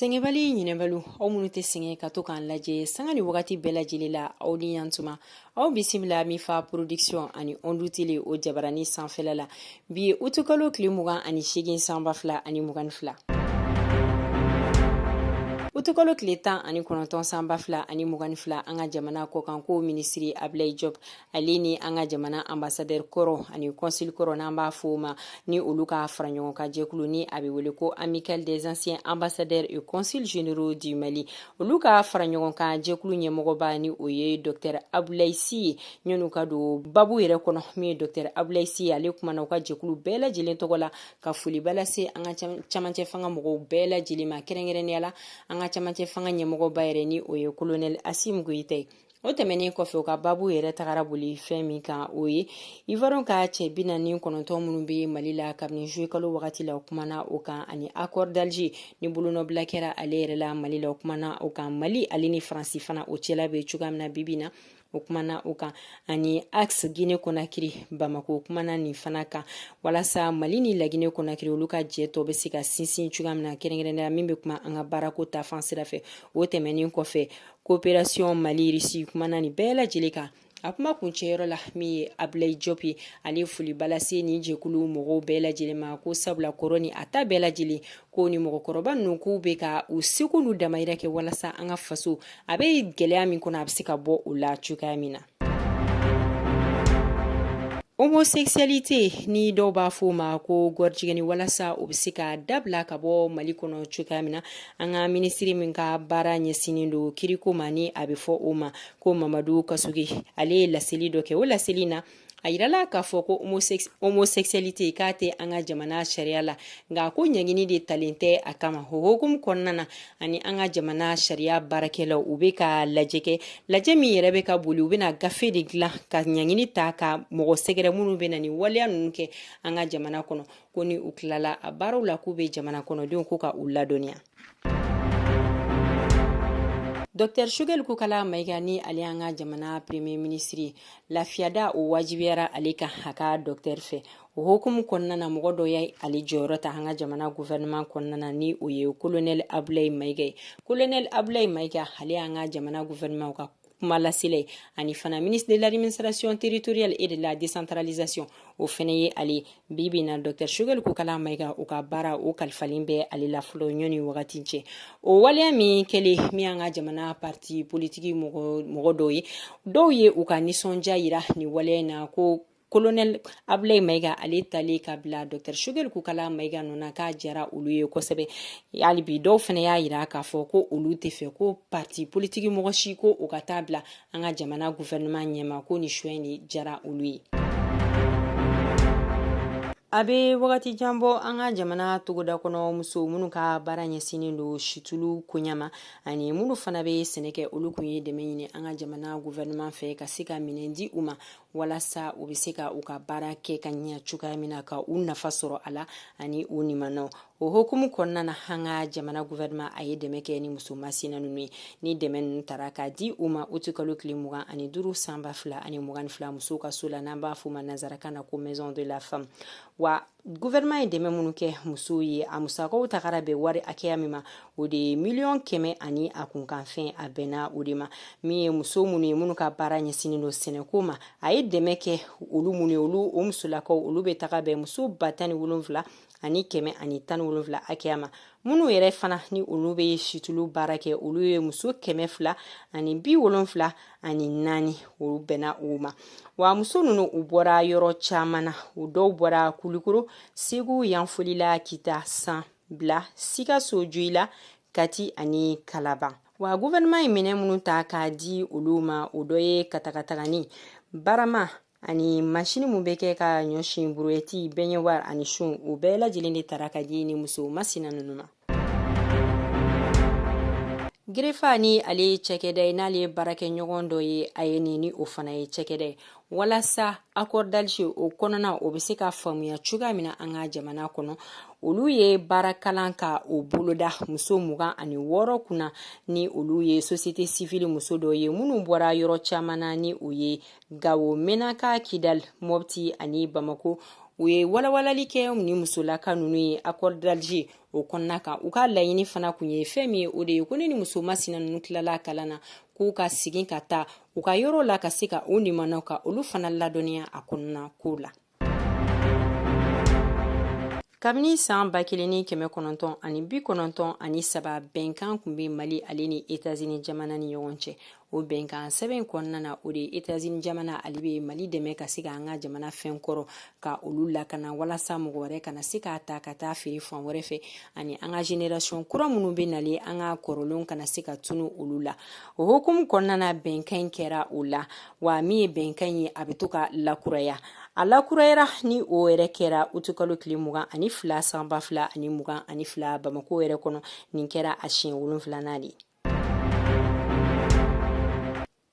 sɛgɛnbali ɲinɛbaliw aw minnu tɛ sɛgɛn ka to k'an lajɛ sanga ni wagati bɛɛ lajɛlen la aw ni yantuma aw bisimila min fa production ani ondu tele o jabarani sanfɛla la bi ye utukalo tile mugan ani seegin san ba fila ani mugan ni fila utukalo tile tan ani kɔnɔntɔn san ba fila ani mugan ni fila an ka jamana kɔkanko minisiri abilayi jɔp ale ni an ka jamana ambasadɛr kɔrɔ ani kɔnsili kɔrɔ n'an b'a fɔ ma ni olu ka fara ɲɔgɔn kan jɛkulu ni a bɛ wele ko amical des anciens ambassadeurs et consuls généraux du mali olu ka fara ɲɔgɔn kan jɛkulu ɲɛmɔgɔba ni o ye dɔtɛr abulayi si ye ɲɔnu ka don babu yɛrɛ kɔnɔ min ye dɔtɛr abulayi si ye ale kumana u ka jɛkulu bɛɛ lajɛlen tɔgɔ la ka foliba lase an ka camancɛ fanga mɔgɔw bɛɛ lajɛlen ma kɛrɛnkɛrɛnnenya la an ka camancɛ fanga ɲɛmɔgɔba yɛrɛ ni o ye kolonɛl asimi goyita ye o tɛmɛnen kɔfɛ u ka babu yɛrɛ tagara boli fɛn min kan o ye ivoirien ka cɛ bi naani kɔnɔntɔn minnu bɛ mali la kabini zuye kalo wagati la o kumana o kan ani accord d'alger ni bolonɔbila kɛra ale yɛrɛ la mali la o kumana o kan mali ale ni faransi fana o cɛla bɛ cogoya min na bibi na o kumana o kan ani axe guinée conakry bamako kumana nin fana kan walasa mali ni laginɛ conakry olu ka jɛ tɔ bɛ se ka sinsin cogoya min na kɛrɛnkɛrɛnnenya min bɛ kuma an ka baarako ta fan sira fɛ o tɛmɛnin kɔfɛ koperasiyɔn mali risi kumana nin bɛɛ lajɛlen kan a kuma kuncɛyɔrɔ la min ye abilayi jɔp ye ale foliba lase nin jɛkulu mɔgɔw bɛɛ lajɛlen ma ko sabula kɔrɔ ni a ta bɛɛ lajɛlen ko ni mɔgɔkɔrɔba ninnu k'u bɛ ka u seko n'u damayira kɛ walasa an ka faso a bɛ gɛlɛya min kɔnɔ a bɛ se ka bɔ o la cogoya min na homosexualité ni dɔw b'a fɔ o ma ko gɔrijigɛni walasa o bɛ se ka dabila ka bɔ mali kɔnɔ cogoya min na an ka minisiri min ka baara ɲɛsinnen don kiriko ma ni a bɛ fɔ o ma ko mamadu kasoge ale ye laseli dɔ kɛ o laseli na a yirala k'a fɔ ko homosexualité k'a tɛ an ka jamana sariya la nka ko ɲangini de talen tɛ a kama o hokumu kɔnɔna na ani an ka jamana sariya baarakɛlaw u bɛ ka lajɛ kɛ lajɛ min yɛrɛ bɛ ka boli u bɛna gafe de dilan ka ɲangini ta ka mɔgɔ sɛgɛrɛ minnu bɛna nin waleya ninnu kɛ an ka jamana kɔnɔ ko ni u tilala a baaraw la k'u bɛ jamana kɔnɔdenw ko ka u ladɔnniya Dr Choguel Kokalla Maïga ni ale y'an ka jamana premier ministre ye, lafiyada o wajibiyara ale kan a ka docteur fɛ. o hokumu kɔnɔna na mɔgɔ dɔ ye ale jɔyɔrɔ ta an ka jamana gouvernement kɔnɔna na ni o ye kolonɛli abulayi mayiga ye kolonɛli abulayi mayiga ale y'an ka jamana gouvernement ka kuma lasela ani fana ministre de l'administration territoriale et de la décentralisation o fɛnɛ ye ale bi bi na docteur shugɛli kokala mayiga o ka baara o kalifalen bɛ ale la fɔlɔ yanni wagati cɛ o waleya min kɛlen min an ka jamana parti politiki mɔgɔ dɔw ye dɔw ye u ka nisɔndiya yira nin waleya in na ko kolonɛli abulayi mayiga ale talen ka bila dɔtɛri shugɛli kokala mayiga nɔ na k'a jara olu ye kosɛbɛ hali bi dɔw fana y'a yira k'a fɔ ko olu tɛ fɛ ko parti politiki mɔgɔ si ko o ka taa bila an ka jamana guvɛrɛnɛman ɲɛma ko ni choix in de jara olu ye a bɛ wagati jan bɔ an ka jamana togoda kɔnɔ muso minnu ka baara ɲɛsinnen don situlu koɲa ma ani minnu fana bɛ sɛnɛ kɛ olu kun ye dɛmɛ ɲini an ka jamana guvɛrɛnɛman fɛ ka se ka minɛn di u ma walasa u bɛ se ka u ka baara kɛ ka ɲɛ cogoya min na ka u nafa sɔrɔ a la ani u nimanaw o hokumu kɔnɔna na an ka jamana guvɛrɛnɛman a ye dɛmɛ kɛ ni muso masina ninnu ye ni dɛmɛ ninnu tara ka di u ma uti kalo tile mugan ani duuru san ba fila ani mugan fila musow ka so la n'an b'a fɔ a ma nansarakan na ko maison de la femme wa guvɛrɛnman ye dɛmɛ minnu kɛ musow ye a musakaw tagara bɛn wari hakɛya min ma o de ye miliyɔn kɛmɛ ani a kunkanfɛn a bɛnna o de ma min ye muso minnu ye minnu ka baara ɲɛsinnen don sɛnɛko ma a ye dɛmɛ kɛ olu minnu ye olu o musolakaw olu bɛ taga bɛn muso ba tan ni wolonfila ani kɛmɛ ani tan ni wolonfila hakɛya ma minnu yɛrɛ fana ni olu bɛ situlu baara kɛ olu ye muso kɛmɛ fila ani bi wolonfila ani naani olu bɛnna o ma wa muso ninnu u bɔra yɔrɔ caman na u dɔw bɔra kulikoro segu yanfolila kita san bila sikaso joyila kati ani kalaban wa guvɛrɛnɛman ye minɛn minnu ta k'a di olu ma o dɔ ye katagatagani barama ani masini min bɛ kɛ ka ɲɔ si buruwɛti bɛɲuwari ani sun u bɛɛ lajɛlen de tara ka di ni muso masina ninnu ma gerefa ni ale ye cɛkɛda ye n'ale baarakɛɲɔgɔn dɔ ye aen ni o fana ye cɛkɛda ye walasa accord d'alger o kɔnɔna o bɛ se ka faamuya cogoya min na an ka jamana kɔnɔ olu ye baarakalan ka o boloda muso mugan ani wɔɔrɔ kunna ni olu ye sosite sifili muso dɔw ye minnu bɔra yɔrɔ caman na ni o ye gawo menaka kidal mopti ani bamako u ye walawalali kɛ ni musolaka ninnu ye accord d'alger o kɔnɔna kan u ka laɲini fana kun ye fɛn min ye o de ye ko ni ni muso masina ninnu tilala kalan na k'u ka segin ka taa u ka yɔrɔ la ka se ka u nimanaw ka olu fana ladɔnniya a kɔnɔna ko la kabini san ba kelen ni kɛmɛ kɔnɔntɔn ani bi kɔnɔntɔn ani saba bɛnkan kun be mali ale ni etazini jamana ni ɲɔgɔn cɛ o bɛnkan sɛbɛn kɔnɔna na o de etazini jamana ale be mali dɛmɛ ka se ka an ka jamana fɛn kɔrɔ ka olu lakana walasa mɔgɔ wɛrɛ kana se k'a ta ka taa feere fan wɛrɛ fɛ ani an ka génération kura minnu be nale an ka kɔrɔlenw kana se ka tunu olu la o hukumu kɔnɔna na bɛnkan kɛra o la wa min ye bɛnkan ye a bɛ to ka lakuraya a lakurayara ni o yɛrɛ kɛra utukalo tile mugan ani fila san ba fila ani mugan ani fila bamakɔ yɛrɛ kɔnɔ nin kɛra a siɲɛ wolonfilanan de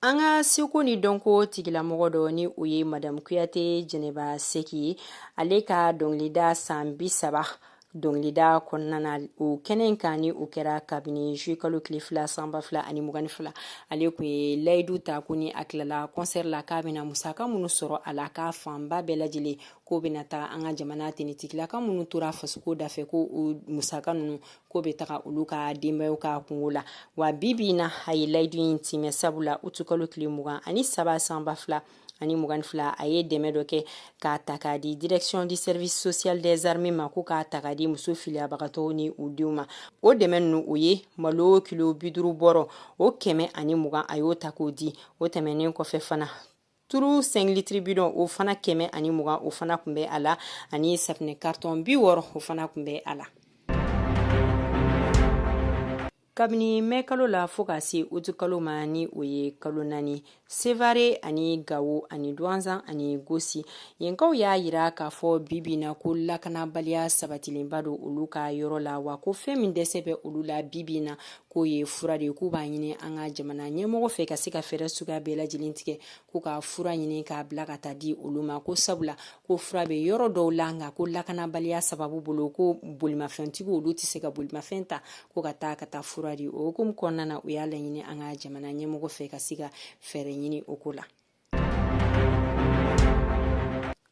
an ka seko ni dɔnko tigilamɔgɔ dɔ ni o ye madamu kuyate jɛnɛba seki ye ale ka dɔnkilida san bi saba dɔnkilida kɔnɔna na o kɛnɛ in kan ni o kɛra kabini juillet kalo tile fila san ba fila ani mugan ni fila ale kun ye layidu ta ko ni a tilala concert la k'a bɛna musaka minnu sɔrɔ a la k'a fanba bɛɛ lajɛlen k'o bɛna taga an ka jamana tenitigilaka minnu tora fasoko dafɛ ko o musaka ninnu ko bɛ taga olu ka denbayaw ka kungo la wa bi bi in na a ye layidu in timɛ sabula utu kalo tile mugan ani saba san ba fila ani mugan fila a ye dɛmɛ dɔ kɛ k'a ta k'a di direction du service social des armées ma ko k'a ta k'a di muso filiyabagatɔw ni u denw ma o dɛmɛ ninnu o ye malo kilo biduru bɔrɔ o kɛmɛ ani mugan a y'o ta k'o di o tɛmɛnen kɔfɛ fana turu cinq litres bidon o fana kɛmɛ ani mugan o fana kun bɛ a la ani safinɛ karitɔn bi wɔɔrɔ o fana kun bɛ a la kabini mɛ kalo la fo ka se utu kalo ma ni o ye kalo naani sevare ani gawo ani duwanzan ani gosi yenkaw y'a yira k'a fɔ bibi na ko lakanabaliya sabatilenba don olu ka yɔrɔ la wa ko fɛn min dɛsɛ bɛ olu la bibi na k'o ye fura de k'u b'a ɲini an ka jamana ɲɛmɔgɔ fɛ ka se ka fɛɛrɛ suguya bɛɛ lajɛlen tigɛ k'u ka fura ɲini k'a bila ka taa di olu ma ko sabula ko fura bɛ yɔrɔ dɔw la nka ko lakanabaliya sababu bolo ko bolimafɛntigi olu tɛ se ka bolimafɛn ta ko ka taa ka taa fura di o hukumu kɔnɔna na u y'a laɲini an ka jamana ɲɛmɔgɔ fɛ ka se ka fɛɛrɛ ɲini o ko la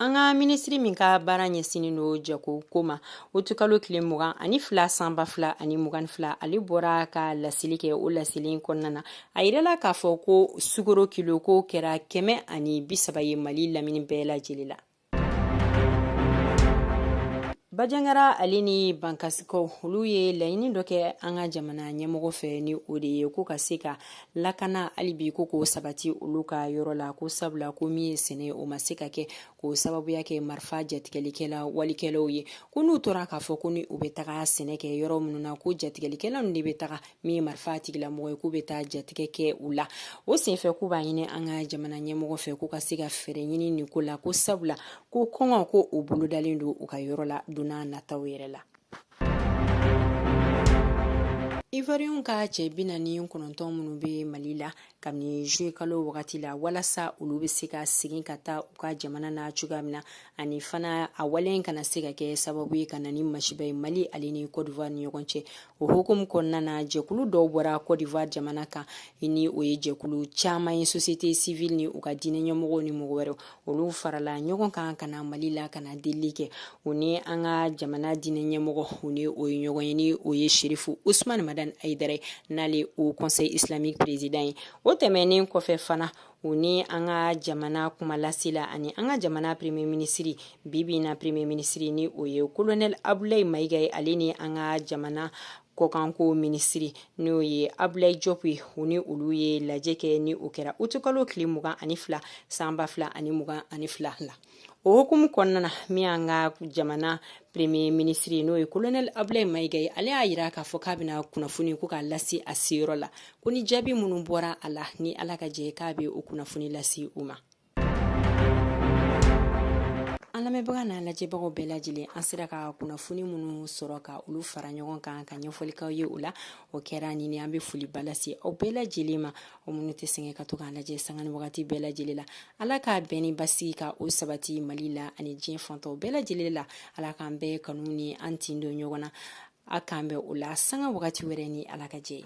an ka minisiri min ka baara ɲɛsinnen don jago ko ma utukalo tile mugan ani fila san ba fila ani mugan fila ale bɔra ka laseli kɛ o laseli kɔnɔna na a yirala k'a fɔ ko sukaro kilo ko kɛra kɛmɛ ani bisaba ye mali lamini bɛɛ lajɛlen la bajangara ale ni bankasikaw olu ye laɲini dɔ kɛ an ka jamana ɲɛmɔgɔ fɛ ni o de ye ko ka se ka lakana halibi ko k'o sabati olu ka yɔrɔ la ko sabula ko min ye sɛnɛ ye o ma se ka kɛ k'o sababuya kɛ marifa jatigɛlikɛla walikɛlaw ye ko n'u tora k'a fɔ ko ni u bɛ taga sɛnɛ kɛ yɔrɔ minnu na ko jatigɛlikɛla ninnu de bɛ taga min ye marifa tigilamɔgɔ ye k'u bɛ taa jatigɛ kɛ u la o senfɛ k'u b'a ɲini an ka jamana ɲɛmɔgɔ fɛ k'u ka se ka fɛɛrɛ ɲini nin ko la ko sabula ko kɔngɔ ko o bolodalen don u ka yɔrɔ la don nataw yɛrɛ la ivoiriyɛnw ka cɛ bi naani kɔnɔntɔn minnu bɛ mali la kabini juillet kalo wagati la walasa olu bɛ se ka segin ka taa u ka jamana na cogoya min na ani fana a wale in kana se ka kɛ sababu ye ka na ni masiba ye mali ale ni côte d'ivoire ni ɲɔgɔn cɛ o hukumu kɔnɔna na jɛkulu dɔw bɔra côte d'ivoire jamana kan ni o ye jɛkulu caman ye société civile ni u ka diinɛ ɲɛmɔgɔw ni mɔgɔ wɛrɛ olu farala ɲɔgɔn kan ka na mali la ka na delili kɛ u ni an ka jamana diinɛ ɲɛmɔgɔ u ni o ye ɲɔgɔn ye ni o ye sherifu usman madani ayidara ye n'ale haut conseil islamique président ye o tɛmɛnen kɔfɛ fana u ni an ka jamana kumalasela ani an ka jamana premier minisiri bibi na premier minisiri ni o ye kolonɛl abulayi mayiga ye ale ni an ka jamana kɔkanko minisiri n'o ye abulay jɔp ye u ni olu ye lajɛ kɛ ni o kɛra utukalo tile mugan ani fila san ba fila ani mugan ani fila la o hukumu kɔnɔna na min y'an ka jamana premier minisiri n'o ye kolonɛli abulay mayiga ye ale y'a yira k'a fɔ k'a bɛna kunnafoni ko k'a lase a seyɔrɔ la ko ni jaabi minnu bɔra a la ni ala ka jɛ k'a bɛ o kunnafoni lase u ma an lamɛnbaga n'an lajɛbagaw bɛɛ lajɛlen an sera ka kunnafoni minnu sɔrɔ ka olu fara ɲɔgɔn kan ka ɲɛfɔli k'aw ye o la o kɛra nin an bɛ foliba lase aw bɛɛ lajɛlen ma aw minnu tɛ sɛgɛn ka to k'an lajɛ sanga ni wagati bɛɛ lajɛlen la ala ka bɛn ni basigi ka o sabati mali la ani diɲɛ fan tɔw bɛɛ lajɛlen la ala k'an bɛɛ kanu ni an tin don ɲɔgɔn na a k'an bɛn o la sanga wagati wɛrɛ ni ala ka jɛ ye